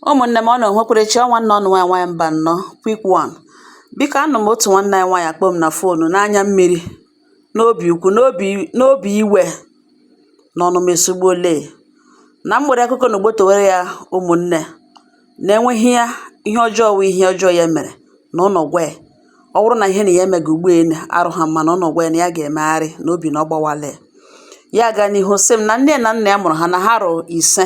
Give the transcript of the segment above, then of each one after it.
Ụmụ̀nnè m ụnụ̀ ènwekwara chi ọ nwannè ụnụ̀ nwaànyị̀ nwaànyị̀ Mbànọ quick one bikò anụ̀ m otù nwannè ànyị nwaànyị̀ kpọ m nà fon n'anya mmiri n'obì ukwu n'obì iwè nà ọnụ̀mà èsugbuole nà m wère akụkọ nà ògbòtò wère yà ụmụ̀nnè nà enwe ihe yà ihe ọjọọ wụ̀ ihe ọjọọ yà mèrè nà ụnụ̀ gwa yà ọ wụrụ nà ihe nà yà emèga ùgbu à nà arị̀ha mma nà ụnụ̀ gwa yà nà yà gà-èmegharị nà obì nà ọ gbawàlè yà gà n'ihu sị m nà nne nà nnà yà mụ̀rụ̀ ha nà ha rị̀ ìse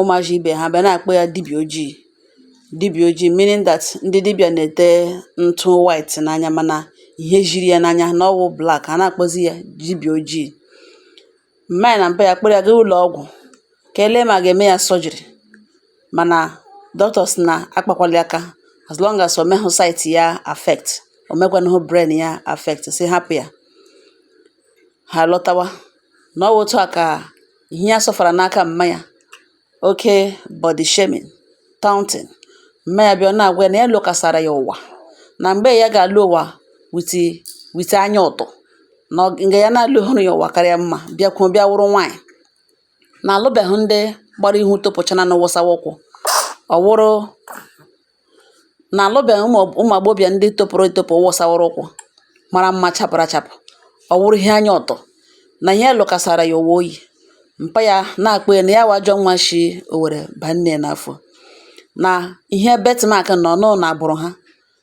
ụmụazị ibe ha bịa na-akpọ ya dibịa ojii dibịa ojii meaning that ndị dibịa na-ete ntụ white n'anya mana ihe jiri ya n'anya na ọ wụ black a na-akpọzi ya dibịa ojii mma na mpa ya kpọrọ ya gaa ụlọ ọgwụ ka e lee ma ga-eme ya surgery mana doctors na akpakwala ya aka as long as o mehụ sight ya affect o mekwahụ brain ya affect sị hapụ ya ha lọtawa na ọ otu a ka ihe ya sọfara n'aka mma ya oke body shaming taunting mma ya bịa na-agwa ya na ya lọkasara ya ụwa na mgbe ya ga-alọ ụwa with anya ụtọ na nga ya na alọhụrụ ya ụwa kara mma bịakwuo bịa wụrụ nwaanyị na alụbeghị ndị gbara ihu topụchana na wụsawa ụkwụ ọ wụrụ na alụbeghị ụmụ agbọghọbịa ndị topụrụ etopụ wụsawara ụkwụ mara mma chapụrụ achapụ ọ wụrụ ihe anya ụtọ na ihe lọkasara ya ụwa oyi mpa ya na-akpọ ya na ya wụ ajọ nwa shi owere baa nne ya n'afọ na ihe birthmark na anọ na agbụrụ ha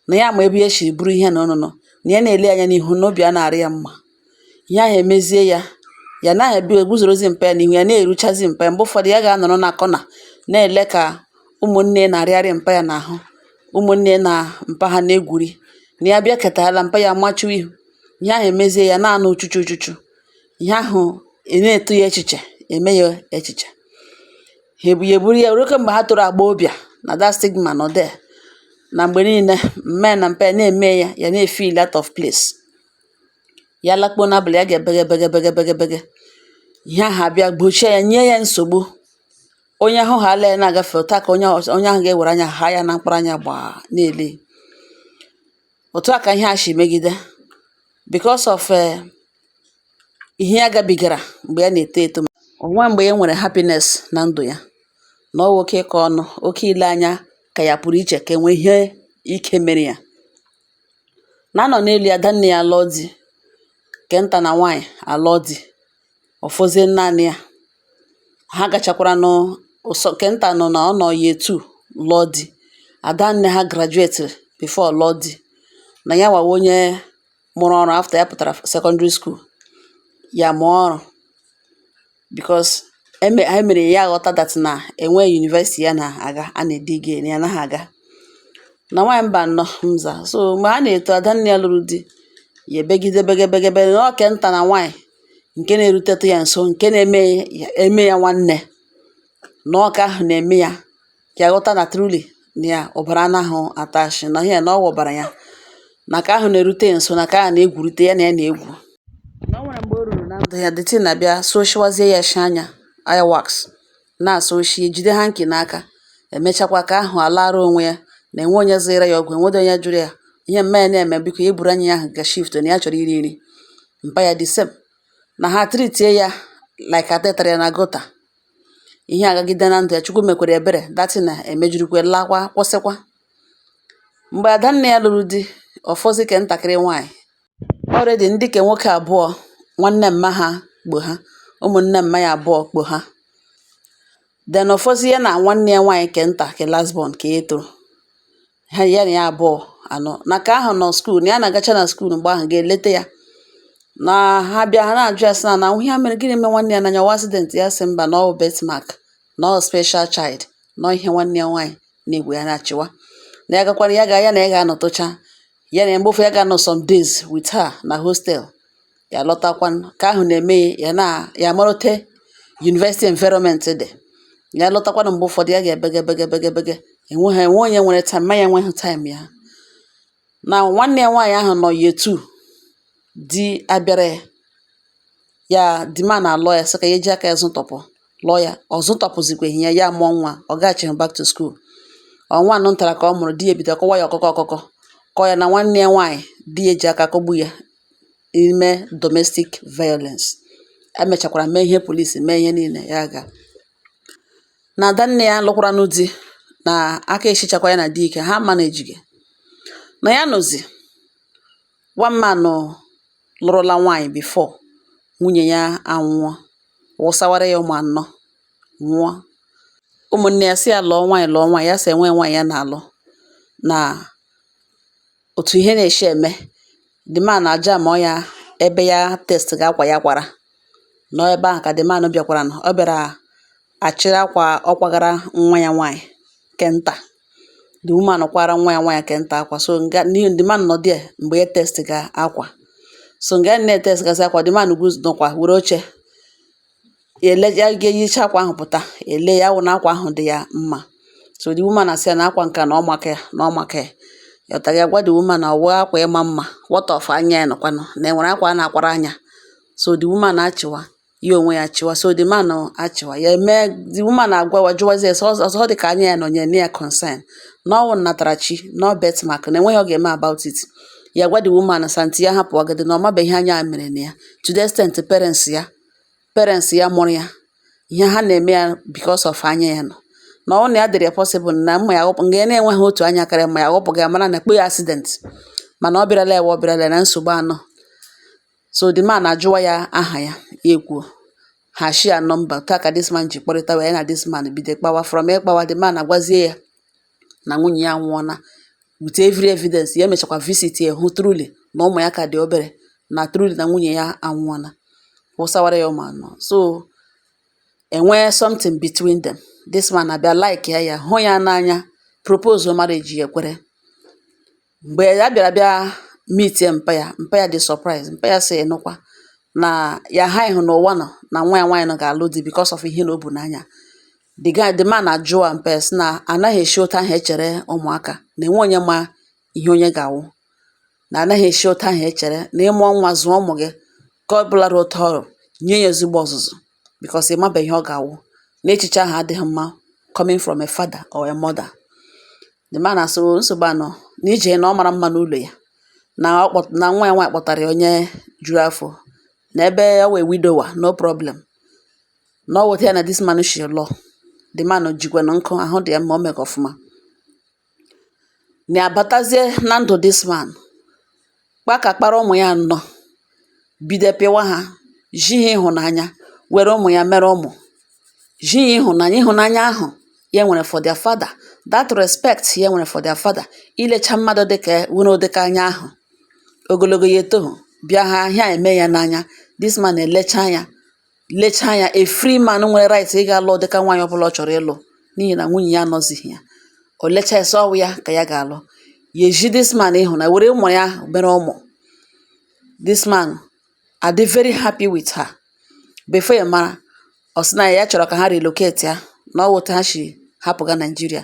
na ya ma ebe ya si buru ihe na ọnụnọ na ya na-ele anya n'ihu na obi a na-arị ya mma ihe ahụ emezie ya ya anadị eguzorozi mpa ya n'ihu ya na-eruchazi mpa ya mgbe ụfọdụ ya ga-anọrọ na kọna na-ele ka ụmụnne na-arịgharị mpa ya n'ahụ ụmụnne na mpa ha na-egwuri na ya bịaketala mpa ya machuo ihu ihe ahụ emezie ya na-anọ uchuchu uchuchu ihe ahụ na-eto ya echiche eme ya echiche ha ebu ya eburu ya ruo mgbe ha toro agbọghọbịa na that stigma nọ there na mgbe niile mma ya na mpa ya na-eme ya ya na-efeel out of place ya lakpuo n'abalị ya ga-ebege bege bege bege bege ihe ahụ abịa gbochie ya nye ya nsogbu onye hụhala ya na-agafe ụta ka onye ọzọ- onye ahụ ga-ewere anya ha ya na mkpụrụ anya gbaa na-ele otu a ka ihe a si megide because of eh, ihe ya gabigara mgbe ya na-eto eto o nwe mgbe ya nwere happiness na ndụ ya na ọ wụ oke ịkọ ọnụ oke ile anya ka ya pụrụ iche ka e nwe ihe ike mere ya na a nọ n'elu ya adanne ya alụọ di nke nta na nwaanyị alụọ di ọ fọzie naanị ya ha gachakwaranụ ụsọ nke nta nụ na ọ nọ year two lụọ di adanne ha grajuetiri before lụọ di na ya wa wụ onye mụrụ ọrụ after ya pụtara secondary school ya mụọ ọrụ because eme anyị mere ya aghọta that na enwe university ya na-aga a na-edige na ya anaghị aga na nwaanyị mba nọ mza so mgbe ha na-eto adanne ya lụrụ di ya ebegide begebegebe na ọ ke nta na nwaanyị nke na-erutetụ ya nso nke na-eme ya nwanne na ọ ka ahụ na-eme ya ya ghọta na truly na ya ọbara anaghị atụ ashị na ihe na ọ wụ ọbara ya na ka ahụ na-erute ya nso na ka ahụ na-egwurute ya na ya na-egwu na o nwere mgbe o ruru na ndụ ya the thing abịa sọshiwazie ya shi anya eye wax na-asọshi ejide hanky n'aka emechakwa ka ahụ alara onwe ya na enwe onye zụra ya ọgwụ enwedo onye jụrụ ya ihe mma ya na-eme biko ya eburu anya ya ahụ ga shift na ya chọrọ iri nri mpa ya the same na ha treatie ya like a tụtara ya na gutter ihe agagide na ndụ ya chukwu mekwere ebere that thing a emejurukwa lakwa kwụsịkwa mgbe adanne ya lụrụ di ọ fọzi ke ntakịrị nwaanyị already ndị ke nwoke abụọ nwanne mma ha kpọ ha ụmụnne mma ya abụọ kpọ ha then ọ fọzi ya na nwanne ya nwaanyị ke nta ke last born ke ya tọrọ ha ya na ya abụọ anọ na ka ahụ nọ school na ya na-agacha na school mgbe ahụ ga-eleta ya na ha bịa ha na-ajụ ya sị na na ihe mere gịnị mee nwanne ya n'anya ọ wụ accident ya sị mba na ọ birthmark na ọ special child na ihe nwanne ya nwaanyị na-egwu ya na-achịwa na ya gakwara ya ga ya na ya ga-anọtụcha ya na mgbe ụfọ ya ga-anọ some days with her na hostel ya lọtakwanụ ka ahụ na-eme ya ya amarute university environment dị ya lọtakwanụ mgbe ụfọdụ ya ga-ebege bege bege bege enwe ha enwe onye nwere time mma ya enweghị time ya na nwanne ya nwaanyị ahụ nọ year two di abịara ya the man na-alụ ya sị ka ya eji aka ya zụtọpụ lụọ ya ọ zụtọpụzikweghị ya ya mụọ nwa ọ gaghachighị back to school ọnwa anọ ntara ka ọ mụrụ di ya ebido kụwa ya ọkụkụ ọkụkụ kụọ ya na nwanne ya nwaanyị di ya ji aka kụgbu ya ime domestic violence. E mechakwara mee ihe police mee ihe niile ya aga. Na adanne ya lụkwaranụ di na aka eshichakwa ya na di ike, ha manage ga. Na ya nọzi one man lụrụla nwaanyị before nwunye ya anwụọ, wụsawara ya ụmụ anọ, nwụọ. Ụmụnne ya sị ya lụọ nwaanyị lụọ nwaanyị, ya sị enwe nwaanyị ya na-alụ na òtù ihe na-èshi ème the man àjamọ ya ebe ya test ga akwà ya kwàrà nọ ebe ahụ̀ kà the man bịakwaranụ ọ bịàrà àchịrị akwà ọ kwagara nwa ya nwaanyị̀ kè ntà the woman kwara nwa ya nwaanyị̀ kè ntà akwà so ǹga n'ihe the man nọ there m̀gbè ya test ga akwà so ǹga ya na-ètest ga akwà the man guzoro nọkwà wère oche ele ya ga-eyicha akwa ahụ pụta ele ya wụ na akwa ahụ dị ya mma so the woman asị ya na akwa nke a na ọ maka ya na ọ maka ya ya pụtara ya gwa the woman na ọ wụ akwa ịma mma what of anya ya nọkwanụ na enwere akwa a na-akwara anya so the woman achịwa ya onwe ya chịwa so the man achịwa ya eme the woman agwawa jụwazie sọ ọzọ dị ka anya ya nọ nyere na ya concern na ọ wụ nnatarachi na birthmark na enweghị ọ ga-eme about it ya gwa the woman sị aunty ya hapụ ọgịdị na ọ mabeghị ihe anya a mere na ya to the extent parents ya parents ya mụrụ ya ihe ha na-eme ya because of anya ya nọ na ọ na ya dịrị ya possible na ma ya ghọpụ nga ya na-enweghị otu anya karịa ma ya ghọpụga ya mara na kpo ya accident mana ọ bịarala ewe ọ bịarala na nsogbu anọ so the man ajụwa ya aha ya ya ekwuo ha share number otu a ka this man ji kpọrịta wee ya na this man bido kpawa from ịkpawa the man agwazie ya na nwunye ya anwụọna with every evidence ya emechakwa visit ya hụ truly na ụmụ ya ka dị obere na truly na nwunye ya anwụọna wụsawara ya ụmụ anọ so enwee something between them this man abịa like ya ya hụ ya n'anya propose marriage ya ekwere mgbe ya bịara bịa meetie mpa ya mpa ya dị surprise mpa ya sị nụkwa na ya ha ịhụ na ụwa nọ na nwa ya nwaanyị nọ ga-alụ di because of ihe na o bu n'anya the guy the man ajụọ mpa ya sị na anaghị esi otu ahụ echere ụmụaka na enwe onye ma ihe onye ga-awụ na anaghị esi otu ahụ echere na ịmụọ nwa zụọ ụmụ gị ka ọ bụla otu ọrụ nye ya ezigbo ọzụzụ because ị mabeghị ihe ọ ga-awụ na echiche ahụ adịghị mma coming from a father or a mother The man asị o nsogbu anọ na ije na ọ mara mma n'ụlọ ya na ọ kpọ na nwa ya nwaanyị kpọtara ya onye juru afọ na ebe ọ wụ a widower no problem na ọ wụ otu a ya na this man shi lụọ the man jikwanụ nkụ ahụ dị ya mma o mega ọfụma na abatazie na ndụ this man kpakakpara ụmụ ya anọ bido pịwa ha ji ha ịhụnanya were ụmụ ya mere ụmụ ji ya ịhụnanya ịhụnanya ahụ ya nwere for their father that respect ya nwere for their father ilecha mmadụ dịka nwere ụdịka anya ahụ ogologo ya etoghị bịa ha ahịa eme ya n'anya this man elecha ya lecha anya a free man nwere right ịga lụọ ụdịka nwaanyị ọbụla ọ chọrọ ịlụ n'ihi na nwunye ya anọzighị ya o lecha ya sị ọ wụ ya ka ya ga-alụ ya eji this man ịhụ na were ụmụ ya mere ụmụ this man adị very happy with her before ya mara ọ sị na ya chọrọ ka ha relocatia na ọ wụ otu a ha shi hapụga Nigeria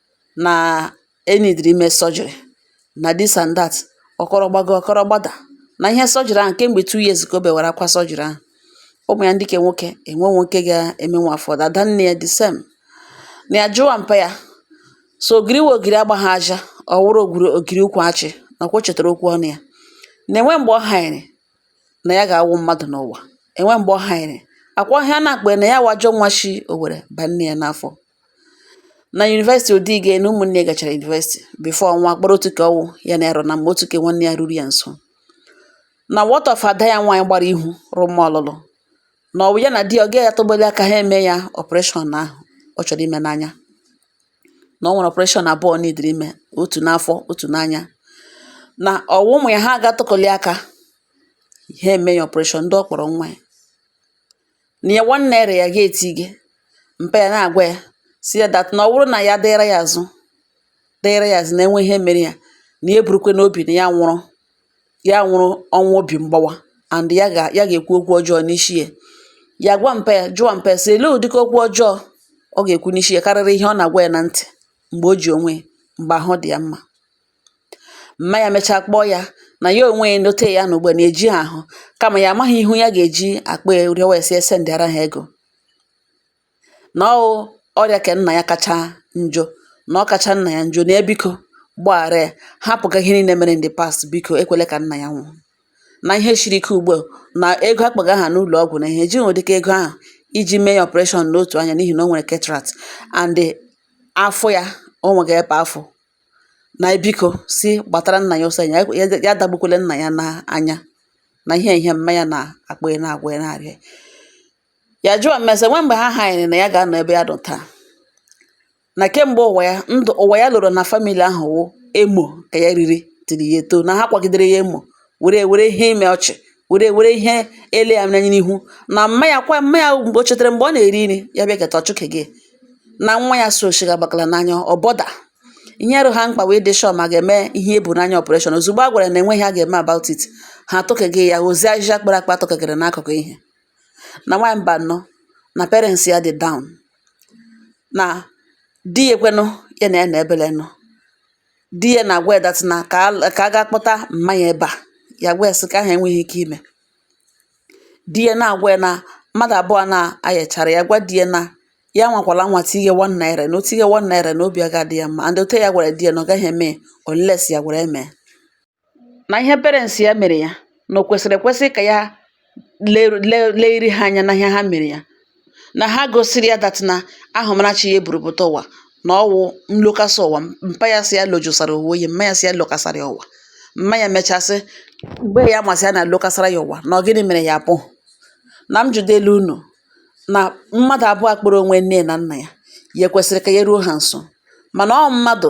na e nidiri ime surgery na this and that ọ kọrọ gbago ọ kọrọ gbada na ihe surgery ahụ kemgbe two years ka o bewara akwa surgery ahụ ụmụ ya ndị ke nwoke enwe nwoke ga-eme nwa afọ ọdọ ada nne ya the same na ya jụwa mpa ya so ogiri we ogiri agbaghị aja ọ wụrụ ogiri ogiri ukwu achị nakwa o chetara okwu ọnụ ya na enwe mgbe ọ hanyere na ya ga-awụ mmadụ n'ụwa enwe mgbe ọ hanyere akwa ọhịa na-akpa na ya wụ ajọ nwa shi owere ba nne ya n'afọ na university ọ dịghị na ụmụnne ya gachara university before ọnwa kpọrọ otu ka ọ wụ ya na ya rụrụ na mgbe otu ke nwanne ya ruru ya nso na what of ada ya nwaanyị gbara ihu rụ mma ọlụlụ na ọ wụ ya na di ya ga-atụgbali aka ha eme ya operation ahụ ọ chọrọ ime n'anya na o nwere operation abụọ e nidiri ime otu n'afọ otu n'anya na ọ wụ ụmụ ya ha ga-atụkọli aka ha eme ya operation ndị ọ kpọrọ nwa ya na ya one naira ya ga-etighị mpa ya na-agwa ya sị ya that na ọ wụrụ na ya dịra ya azụ dịra ya azụ na e nwee ihe mere ya na ya burukwe n'obi na ya nwụrụ ya nwụrụ ọnwụ obi mgbawa and ya ga ya ga-ekwu okwu ọjọọ n'isi ya ya gwa mpa ya jụọ mpa ya sị ele ụdịka okwu ọjọọ ọ ga-ekwu n'isi ya karịrị ihe ọ na-agwa ya na ntị mgbe o ji onwe ya mgbe ahụ dị ya mma mma ya mechaa kpọọ ya na ya onwe ya n'ote ya nọ ugbu a na e ji ya ahụ kama ya amaghị ihu ya ga-eji akpọ ya rịọwa ya sị e sendịara ha ego na ọ ọrịa ke nna ya kacha njọ na ọ kacha nna ya njọ na ebiko gbaghara ya hapụga ihe niile mere in the past biko ekwele ka nna ya nwụọ na ihe siri ike ugbu a na ego akpaga ha n'ụlọ ọgwụ na ha ejighị ụdịka ego ahụ iji mee ya operation n'otu anya n'ihi na o nwere cataract and afọ ya o nweghị ebe afọ na biko sị gbatara nna ya ọsọ anya ya dagbukwele nna ya n'anya na ihe ihe mma ya na-akpọ ya na-agwa ya na-arịọ ya jụọ mma ya sị nwe mgbe ha hanyere na ya ga-anọ ebe ya nọ taa na kemgbe ụwa ya ndụ ụwa ya lọrọ na family ahụ wụ emo ka ya riri tiri ya etoo na ha kwagidere ya emo were were ihe ime ọchị were were ihe ele ya n'anya n'ihi na mma ya kwa mma ya mgbe o chetara mgbe ọ na-eri nri ya bịa keta ọchụke gị na nwa ya so shiga gbakala n'anya ọ bọda ihe arụ ha mkpa wee dị shọ ma ga-eme ihe ebu n'anya operation ozugbo a gwara na enweghị a ga-eme about it ha atụkegị ya ozi ahịhịa kpara akpa atụkegịrị n'akụkụ ihe na nwaanyị mba nọ na parents ya dị down na di ya ekwenụ ya na ya na ebele nọ di ya na-agwa ya that na ka a- ka a gaa kpọta mma ya ebe a ya gwa ya sị ke ahụ enweghị ike ime di ya na-agwa ya na mmadụ abụọ na-ayachara ya gwa di ya na ya nwakwala nwa tinye one naira na o tinye one naira na obi aga adị ya mma and ote ya gwara di ya na ọ gaghị eme unless ya gwara mee na ihe parents ya mere ya na o kwesịrị ekwesị ka ya lee lee leri ha anya na ihe ha mere ya na ha gosiri ya that na ahụmarachi ya eburu pụta ụwa na ọ wụ nlokasa ụwa mpa ya sị ya lojosara ụwa oyi mma ya sị ya lokasara ya ụwa mma ya mechasị mgbe ya masị ya na lokasara ya ụwa na ọ gịnị mere ya apụ na m jụdele unu na mmadụ abụọ kpọrọ onwe nne na nna ya ya ekwesịrị ka ya ruo ha nso mana ọ mmadụ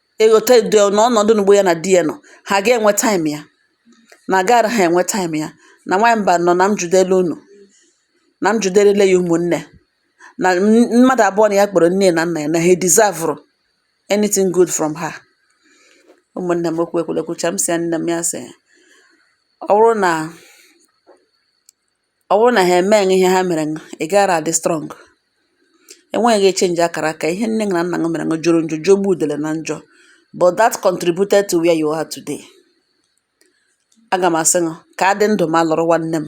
eghọta edo ya na ọnọdụ n'ugbo ya na di ya nọ ha ga-enwe time ya na agaara ha enwe time ya na nwaanyị mbanụ na m jụdele unu na m jụdelele ya ụmụnne na m- mmadụ abụọ na ya kpọrọ nne na nna ya na ha deserve anything good from her ụmụnne m okwu ekwule kwuchaa m sị ya nne m ya sị ọ bụrụ na Ọ bụrụ na ha emeghị ihe ha mere gị, ị gaara adị strong. E nweghị echenji akara aka. Ihe nne gị na nna gị mere gị jọrọ njọ, jọgbu udele na njọ. But that contributed to where you are today. Aga m asị gị ka a dị ndụ ma lụrụ nwanne m.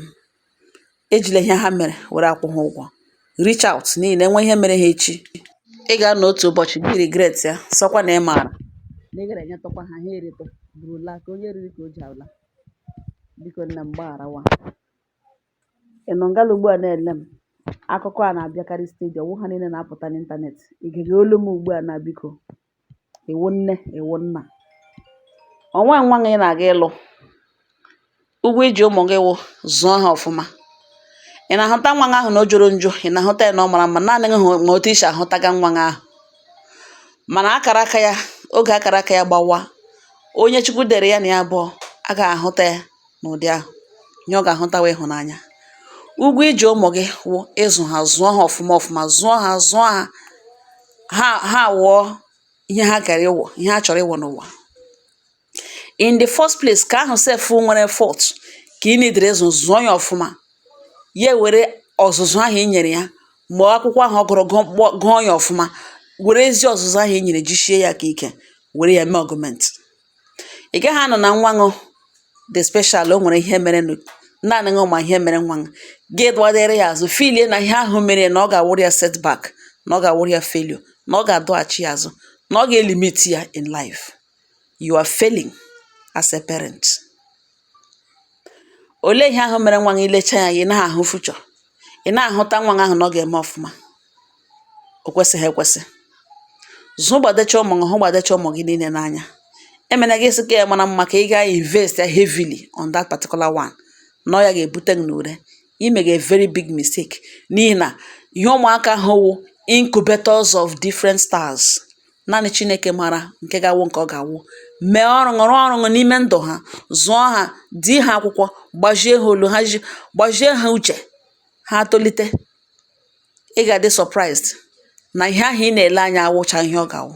Ejila ihe ha mere were akwụ ha ụgwọ. Reach out n'ihi na e nwee ihe mere ha echi. Ị ga-anọ otu ụbọchị gị regret ya sị ọkwa na ị maara na ị gaara enyetụkwa ha ha eritụ bụrụla ka onye riri ka o ji ala. Biko nne m gbagharawa. Ị nọ ngala ugbu a na-ele m, akụkọ a na-abịakarị steady, ọ wụ ha niile na-apụta n'ịntanetị. Ị gere olu m ugbu a na biko, ị wụ nne, ị wụ nna. O nweghị nwa gị na-aga ịlụ, ụgwọ i ji ụmụ gị wụ zụọ ha ọfụma. Ị na-ahụta nwa gị ahụ na ọ jọrọ njọ, ị na-ahụta ya na ọ mara mma, naanị gị ma otu i si ahụtaga nwa gị ahụ. Mana akara aka ya, oge akara aka ya gbawa, onye Chukwu dere ya na ya bụ agaghị ahụta ya. n'ụdị ahụ, ihe ọ ga-ahụta wụ ịhụnanya. Ụgwọ i ji ụmụ gị wụ ịzụ ha, zụọ ha ọfụma ọfụma, zụọ ha, zụọ ha, ha ha awụọ ihe ha kara ịwụ, ihe ha chọrọ ịwụ n'ụwa. In the first place, ka ahụ sef nwere fault ka i needere ịzụ, zụọ ya ọfụma, ya ewere ọzụzụ ahụ i nyere ya ma ọ akwụkwọ ahụ ọ gụrụ gụọ kpọ gụọ ya ọfụma, were ezi ọzụzụ ahụ i nyere jisie ya aka ike, were ya mee augment. ị gaghị anọ na nwa ṅụ dị special o nwere ihe mere naanị ṅụ ma ihe mere nwa ṅụ gị dụwadere ya azụ feelie na ihe ahụ mere na ọ ga-awụrụ ya setback na ọ ga-awụrụ ya failure na ọ ga-adọghachi ya azụ na ọ ga-elimit ya in life you are failing as a parent. Olee ihe ahụ mere nwa gị i lechaa ya ị naghị ahụ future ị na-ahụta nwa gị ahụ na ọ ga-eme ọfụma o kwesịghị ekwesị zụgbadecha ụmụ gị hụgbadecha ụmụ gị niile n'anya emena gị sị ka ya mara mma ka ị ga-invest ya heavily on that particular one na ọ ya ga-ebute gị n'ure i mega very big mistake n'ihi na ihe ụmụaka ha wụ incubators of different stars naanị Chineke mara nke ga-awụ nke ọ ga-awụ mee ọrụ ṅụ rụọ ọrụ ṅụ n'ime ndụ ha zụọ ha di ha akwụkwọ gbazie ha olu ha gbazie ha uche ha tolite ị ga-adị surprised na ihe ahụ ị na-ele anya awụcha ihe ọ ga-awụ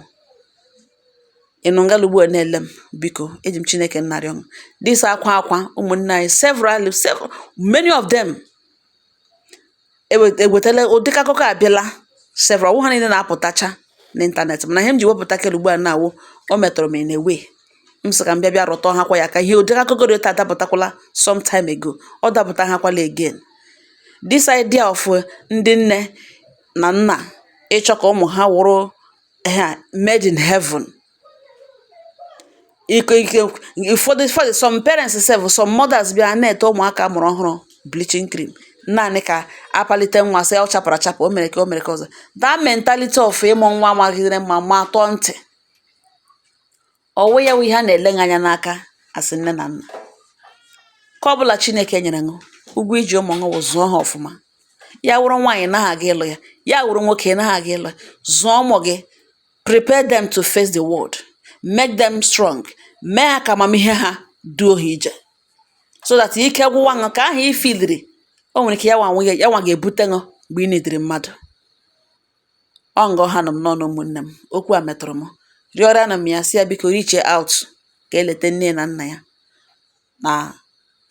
ị nọ ngala ugbu a na-ele m biko eji m Chineke nna rịọ ṅụ this akwa akwa ụmụnne anyị several many of them ewetala ụdịka akụkọ a bịala several ọ wụ ha niile na-apụtacha n'ịntanetị mana ihe m ji wepụta kele ugbu a na-awụ o metụrụ m in a way m sị ka m bịa bịa rụtụ ha kwa ya aka ihe ụdịka akụkọ dị otu a dapụtakwala some time ago ọ dapụta ha kwala again this idea of uh, ndị nne na nna ịchọ ka ụmụ ha wụrụ ha made in heaven ụfọdụ some parents sef some mothers bịa ha na-ete ụmụaka a mụrụ ọhụrụ bleaching cream naanị ka a palite nwa sị ọ chapụrụ achapụ o mere ka o mere ka ọzọ that mentality of ịmụ nwa magidere mma ma tọọ ntị ọ wụ ya wụ ihe a na-ele anya n'aka as nne na nna ke ọ bụla Chineke nyere ṅụ ụgwọ i ji ụmụ ṅụ wụ zụọ ha ọfụma ya wụrụ nwaanyị ị naghị aga ịlụ ya ya wụrụ nwoke ị naghị aga ịlụ ya zụọ ụmụ gị Prepare them to face the world. Make them strong. Mee ha ka amamihe ha duo ha ije. So that ike gwụwa ṅụ ke ahụ i filiri o nwere ike ya nwa ga-ebute ṅụ mgbe ị na-ediri mmadụ. Ọ nga ọ ha nụ m n'ọnụ ụmụnne m. Okwu a metụrụ m. Rịọrọnụ m ya sị ya biko reach out ka e leta nne na nna ya. nà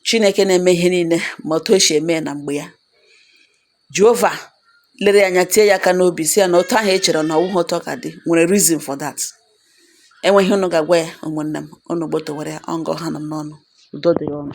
chinėkè na-eme ihe niilė mà òtù o shì ème ya nà m̀gbè ya jehova lere ya anya tie ya aka n'obì sị ya nà òtù ahụ̀ e chèrè nà ọ̀wụhụ òtù ọ kà dị nwèrè reason for that enwėghi ihe unu gà-àgwa ya ụmụ̀nnè m unu gbòtò wère ya ọ nga ọ ha nụ m n'ọnụ̇ ùdo dịrị unu